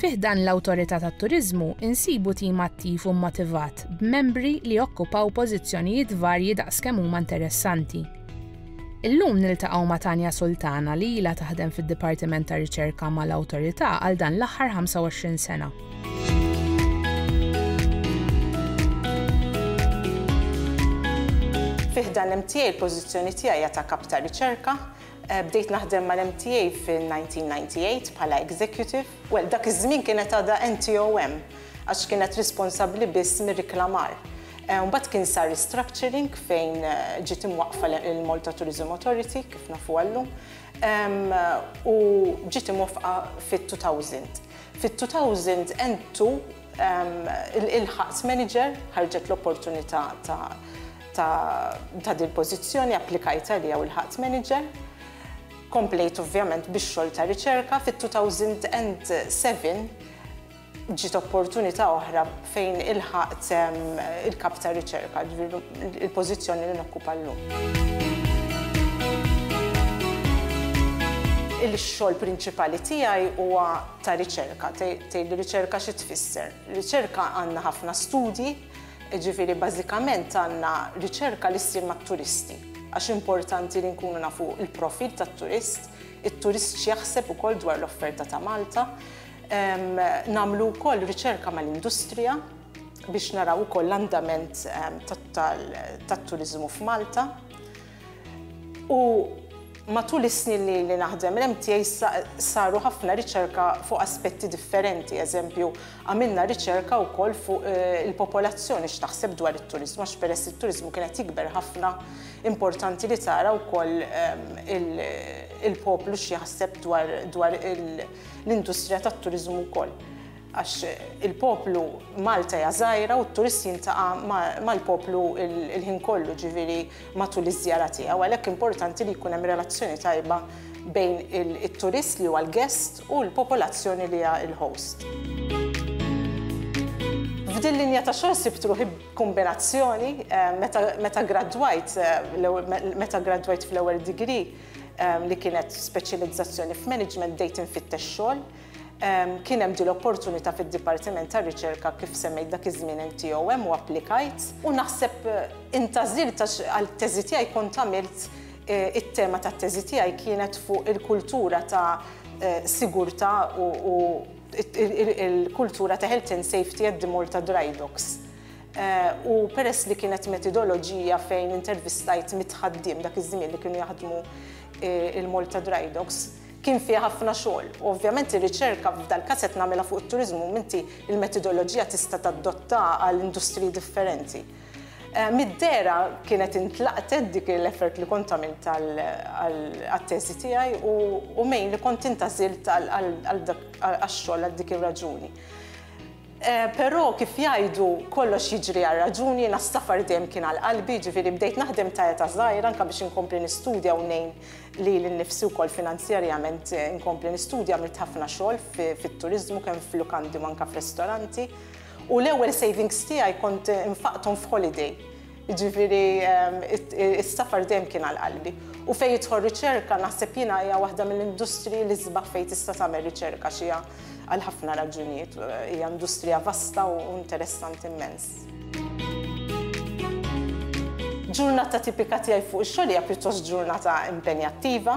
Fi ħdan l-Awtorità tat-Turiżmu insibu tim attiv u mmotivat b'membri li jokkupaw pożizzjonijiet varji daqskemm huma interessanti. Illum niltaqgħu ma' Tania Sultana li ilha taħdem fid-Dipartiment ta' Riċerka mal-Awtorità għal dan l-aħħar 25 sena. Fi ħdan l-MTA l-pożizzjoni tiegħi hija ta' kap ta' riċerka. Eh, bdejt naħdem mal-MTA fin-1998 bħala executive Well, dak iż-żmien kienet għadha NTO hemm, għax kienet responsabbli biss mir-riklamar. Mbagħad kien sar restructuring fejn ġiet imwaqqfa l-Malta Tourism Authority, kif nafuha llum, u ġiet imwaffqa fit-2000. Fit-2000 N2 ilħaqt manager, ħarġet l-opportunità ta' din il-pożizzjoni, applikajt għaliha u lħaqt manager. Komplejt ovvjament bix-xogħol ta' riċerka, fit-2007 ġiet opportunità oħra fejn ilħaqt il-Kap ta' Riċerka, ġifieri il-pożizzjoni li nokkupa llum. Il-xogħol prinċipali tiegħi huwa ta' riċerka. Tgħidli riċerka xi tfisser? Riċerka għandna ħafna studji, Jiġifieri bażikament għandna riċerka li ssir mat-turisti għax importanti li nkunu nafu l-profil tat-turist, it-turist x'jaħseb ukoll dwar l-offerta ta' Malta. Nagħmlu wkoll riċerka mal-industrija biex naraw ukoll l-andament tat-turiżmu f'Malta. U matul is-snin li ili naħdem l-MTA saru ħafna riċerka fuq aspetti differenti, eżempju, għamilna riċerka wkoll fuq il-popolazzjoni x'taħseb dwar it-turiżmu għax peress li t-turiżmu kien qed jikber ħafna, importanti li tara wkoll il-poplu x'jaħseb dwar l-industrija tat-turiżmu wkoll. Għax il-poplu Malta hija żgħira u t-turist jintaqa' mal-poplu l-ħin kollu, ġifieri matul iż-żjara tiegħu, għalhekk importanti li jkun hemm relazzjoni tajba bejn it-turist li huwa l-guest u l-popolazzjoni li hija l-host. F'din linja ta' xogħol sibt ruħi b'kumbinazzjoni meta gradwajt meta gradwajt fl-ewwel degree li kienet speċjalizzazzjoni f'management bdejt infittex xogħol, Kien hemm din l-opportunità fid-Dipartiment tar-Riċerka kif semmejt dak iż-żmien NTOM u applikajt u naħseb intgħażilt għax għat-teżi tiegħi kont għamilt it-tema tat-teżi tiegħi kienet fuq il-kultura ta' sigurtà u l-kultura ta' health and safety at the Malta Dry Docks. U peress li kienet metidoloġija fejn intervistajt mitt ħaddiem dak iż-żmien li kienu jaħdmu l-Malta Dry Docks, Kien fiha ħafna xogħol u ovvjament ir-riċerka f'dal-każ qed nagħmilha fuq it-turiżmu m'inti l-metodoloġija tista' tadotta għal industriji differenti. Mid-dehra kienet intlaqtet dik l-effort li kont għamilt għat-teżi tiegħi u mejn li kont intgħażilt għax-xogħol għal dik ir-raġuni. Però kif jgħidu, kollox jiġri għal raġuni, jiena s-safar dejjem kien għal qalbi, jiġifieri bdejt naħdem ta' età żgħira anke biex inkompli nistudja u ngħin lili nnifsi wkoll finanzjarjament inkompli nistudja għamilt ħafna xogħol fit-turiżmu kemm f'lukandi u anke f'ristoranti u l-ewwel savings tiegħi kont infaqthom f'holiday. Jiġifieri is-safar dejjem kien għal qalbi. U fejn jidħol riċerka naħseb jiena hija waħda mill-industriji li sbaħ fejn tista' tagħmel riċerka għax hija għal ħafna raġunijiet hija industrija vasta u interessanti immens. Ġurnata tipika tiegħi fuq ix-xogħol hija pjuttost ġurnata impenjattiva.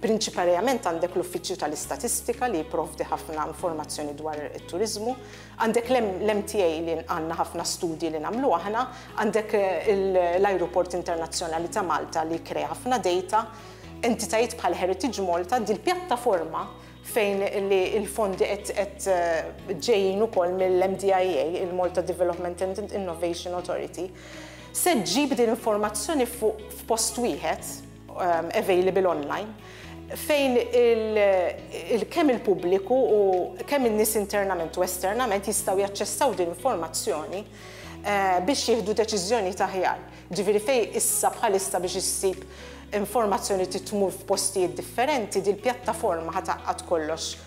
Prinċiparjament għandek l-Uffiċċju tal-Istatistika li jipprovdi ħafna informazzjoni dwar it-turiżmu, għandek l-MTA li għandna ħafna studji li nagħmlu aħna, għandek l-Ajruport Internazzjonali ta' Malta li jikkrea ħafna dejta, entitajiet bħal Heritage Malta, dil-pjattaforma fejn li l-fondi qed ġejjin ukoll mill-MDIA, il-Malta Development and Innovation Authority, se ġġib din l-informazzjoni f'post wieħed. um, available online fejn kemm il-pubbliku u kemm in-nies internament u esternament jistgħu jaċċessaw din informazzjoni eh, biex jieħdu deċiżjoni taħjar. Ġifieri fej issa bħalissa biex issib informazzjoni titmur f'postijiet differenti, dil pjattaforma ħataqqat kollox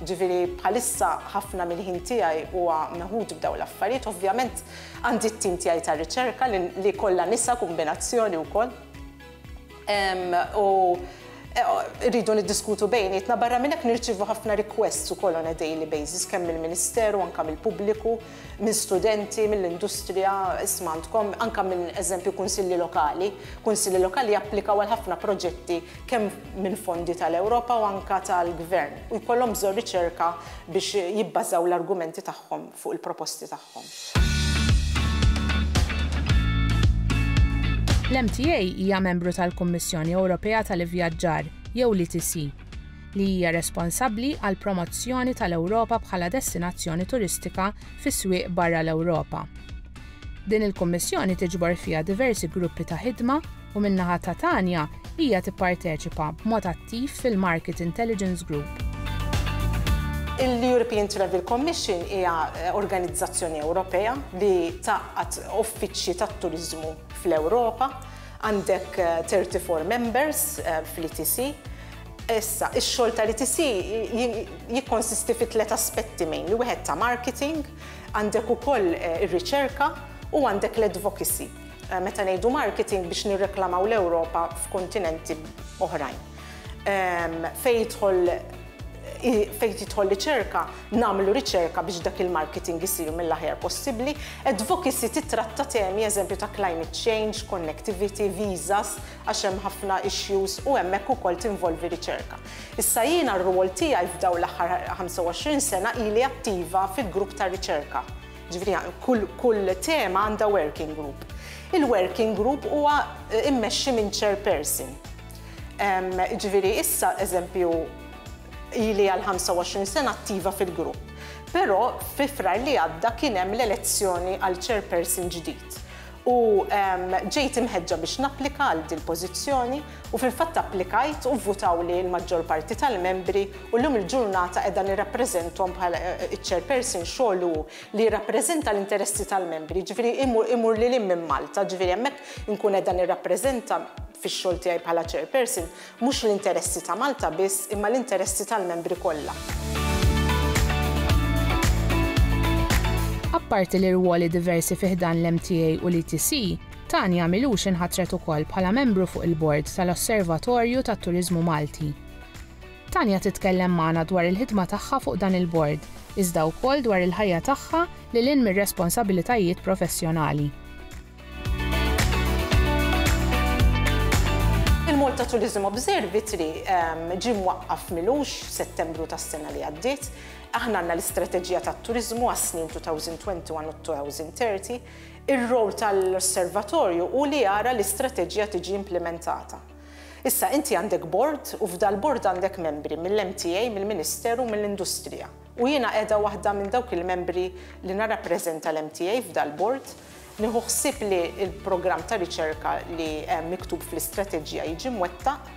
Jiġifieri bħalissa ħafna mill-ħin tiegħi huwa meħud b'dawn l-affarijiet. Ovvjament għandi t-tim tiegħi ta' riċerka li kollha nisa, kumbinazzjoni wkoll. U rridu niddiskutu bejnietna. Barra minn hekk nirċievu ħafna requests ukoll on a daily basis kemm mill-Ministeru anke mill-pubbliku, minn studenti, mill-industrija, isma' għandkom, anke minn eżempju kunsilli lokali. Kunsilli lokali japplikaw għal ħafna proġetti kemm mill-fondi tal-Ewropa u anke tal-Gvern, u jkollhom bżonn riċerka biex jibbażaw l-argumenti tagħhom fuq il-proposti tagħhom. L-MTA hija membru tal-Kummissjoni Ewropea tal-Ivvjaġġar, jew l-ETC, li hija responsabbli għall-promozzjoni tal-Ewropa bħala destinazzjoni turistika fi swieq barra l-Ewropa. Din il-Kummissjoni tiġbor fiha diversi gruppi ta' ħidma u min-naħa ta' Tanya, hija tipparteċipa b'mod attiv fil-Market Intelligence Group. Il-European Travel Commission hija organizzazzjoni Ewropea li tgħaqqad uffiċċji tat-turiżmu fl-Ewropa. Għandek 34 members fl-ETC. Issa, ix-xogħol tal-ETC jikkonsisti fi tliet aspetti mainly, wieħed ta' marketing, għandek ukoll ir-riċerka u għandek l-advocacy. meta ngħidu marketing biex nirreklamaw l-Ewropa f'kontinenti oħrajn. Fejn jidħol fejn tidħol riċerka, nagħmlu riċerka biex dak il-marketing isir mill-aħjar possibbli. Advocacy titratta temi eżempju ta' climate change, connectivity, visas, għax hemm ħafna issues u hemmhekk ukoll tinvolvi riċerka. Issa jiena r-rwol tiegħi f'dawn l-aħħar 25 sena ili attiva fil-grupp ta' riċerka Ġifieri kull kull tema għandha working group. Il-working group huwa eh, immexxi minn chairperson. Ġifieri issa eżempju ili għal 25 sena attiva fil-grupp. Però fi frar li għadda kien hemm l-elezzjoni għal chairperson ġdid. U ġejt imħeġġa biex napplika għal dil pożizzjoni U fil-fatt applikajt u vvutawli l-maġġor parti tal-membri u llum il-ġurnata qiegħda nirrappreżenthom bħala ċ-chairperson xogħol hu li jirrappreżenta l-interessi tal-membri, jiġifieri imur lil hinn minn Malta, jiġifieri hemmhekk inkun qiegħda nirrappreżenta fix-xogħol tiegħi bħala chairperson mhux l-interessi ta' Malta biss imma l-interessi tal-membri kollha. Apparti l-irwoli diversi fi ħdan l-MTA u l-ETC, Tania Milux inħatret ukoll bħala membru fuq il-Bord tal-Osservatorju tat-Turiżmu Malti. Tania titkellem magħna dwar il-ħidma tagħha fuq dan il-Bord, iżda wkoll dwar il-ħajja tagħha lil hinn mir-responsabilitajiet professjonali. Il-Malta Tourism Observatory ġie mwaqqaf Milux f'Settembru tas-sena li għaddiet. Aħna għandna l-istrateġija tat-turiżmu għas-snin 2021 u 2030. Ir-role tal-Osservatorju hu li jara li strateġija tiġi implimentata. Issa, inti għandek bord u f'dal-bord għandek membri mill-MTA, mill-Ministeru u mill-Industrija. U jiena qiegħda waħda minn dawk il-membri li narrappreżenta l-MTA f'dal-bord. Nieħu ħsieb li l-programm ta' riċerka li hemm miktub fl-istrateġija jiġi mwettaq.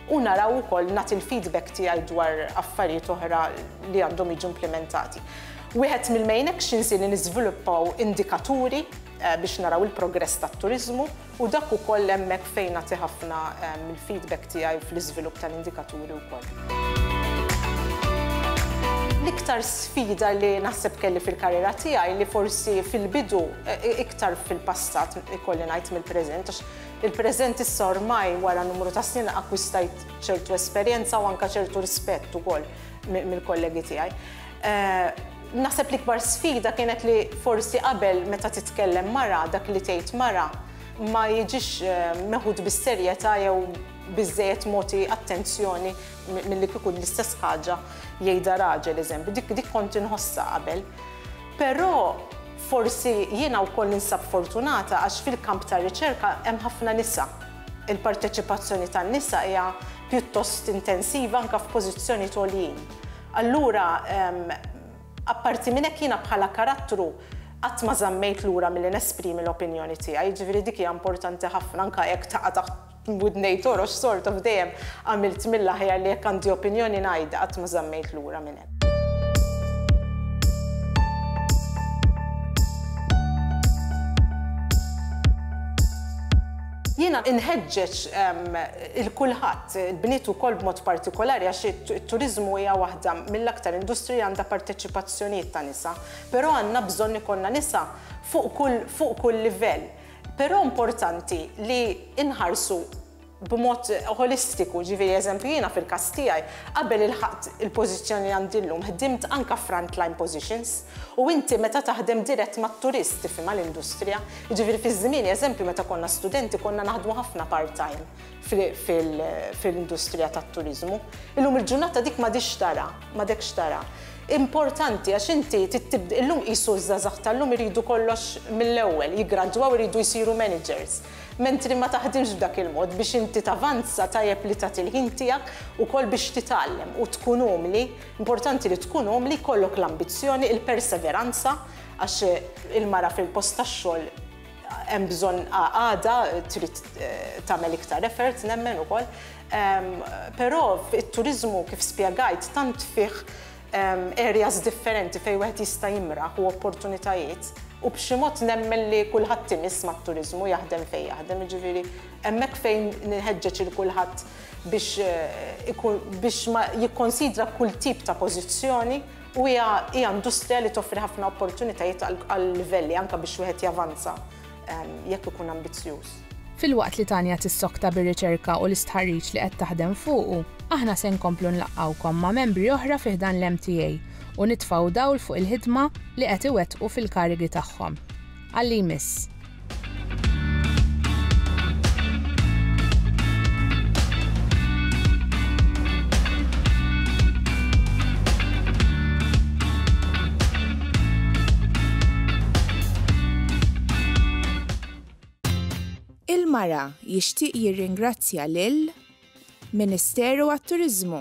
u naraw ukoll nagħti l-feedback tiegħi dwar affarijiet oħra li għandhom jiġu implimentati. Wieħed mill-main actions hi li niżviluppaw indikaturi biex naraw il-progress tat-turiżmu u dak ukoll hemmhekk fejn nagħti ħafna mill-feedback tiegħi fl-iżvilupp tal-indikaturi wkoll. L-iktar sfida li naħseb kelli fil-karriera tiegħi li forsi fil-bidu, iktar fil-passat ikolli ngħid mill-preżent, Il-preżent issa ormai wara numru ta' snin akkwistajt ċertu esperjenza u anke ċertu rispett ukoll mill-kollegi tiegħi. Naħseb l-ikbar sfida kienet li forsi qabel meta titkellem mara, dak li tgħid mara ma jiġix meħud bis-serjetà jew biżżejjed mogħti attenzjoni milli kieku l-istess ħaġa jgħidha raġel, eżempju. Dik kont inħossha qabel. Però forsi jiena wkoll ninsab fortunata għax fil-kamp tar-riċerka hemm ħafna nisa. Il-parteċipazzjoni tan-nisa hija pjuttost intensiva anke f'pożizzjonijiet għoljin. Allura, apparti minn hekk jiena bħala karattru qatt ma żammejt lura milli nesprimi l-opinjoni tiegħi, jiġifieri dik hija importanti ħafna anke jekk taqa' taħt B'widnejn torox sort of dejjem għamilt mill-aħjar li jekk għandi opinjoni ngħidha qatt ma żammejt lura minn hemm. Jiena inħeġġeġ il kulħadd, il-bniet ukoll b'mod partikolari għax it-turiżmu hija waħda mill-aktar industrija għandha parteċipazzjonijiet ta' nisa, però għandna bżonn ikollna nisa fuq kull livell. Però importanti li nħarsu b'mod ħolistiku, ġifieri eżempju jiena fil-każ tiegħi qabel ilħaqt il-pożizzjoni li għandi llum ħdimt anke f'front line positions u inti meta taħdem dirett mat-turist tifhimha l-industrija. Jiġifieri fi żmieni eżempju meta konna studenti konna naħdmu ħafna part-time. fil-industrija tat-turiżmu. Illum il-ġurnata dik m'għadhiex tara, m'għadekx tara. Importanti għax inti illum qisu ż-żgħażagħ tal-lum iridu kollox mill-ewwel, jiggradwaw iridu jsiru managers. Mentri ma taħdimx b'dak il-mod, biex inti tavanza tajjeb li tagħti l-ħin tiegħek ukoll biex titgħallem u tkun umli, importanti li tkun umli, jkollok l-ambizzjoni, il-perseveranza għax il-mara fil-post tax-xogħol Hemm bżonn għada trid tagħmel iktar effort nemmen ukoll. Però it-turiżmu kif spjegajt tant fih areas differenti fejn wieħed jista' jimraħ u opportunitajiet u b'xi mod nemmen li kulħadd imiss mat-turiżmu jaħdem fejn jaħdem. Jiġifieri hemmhekk fejn nħeġġeġ lil kulħadd biex biex ma jikkonsidra kull tip ta' pożizzjoni. u hija hija industrija li toffri ħafna opportunitajiet għal-livelli anke biex wieħed javanza jekk ikun ambizzjuż. Filwaqt li Tanya tissokta bir-riċerka u l-istħarriġ li qed taħdem fuqu, aħna se nkomplu nlaqqgħukom ma' membri oħra fi ħdan l-MTA u nitfgħu dawl fuq il-ħidma li qed iwettqu fil-karigi tagħhom. għal-li jmiss. il-mara jixtieq jirringrazzja lil Ministeru għat-Turiżmu.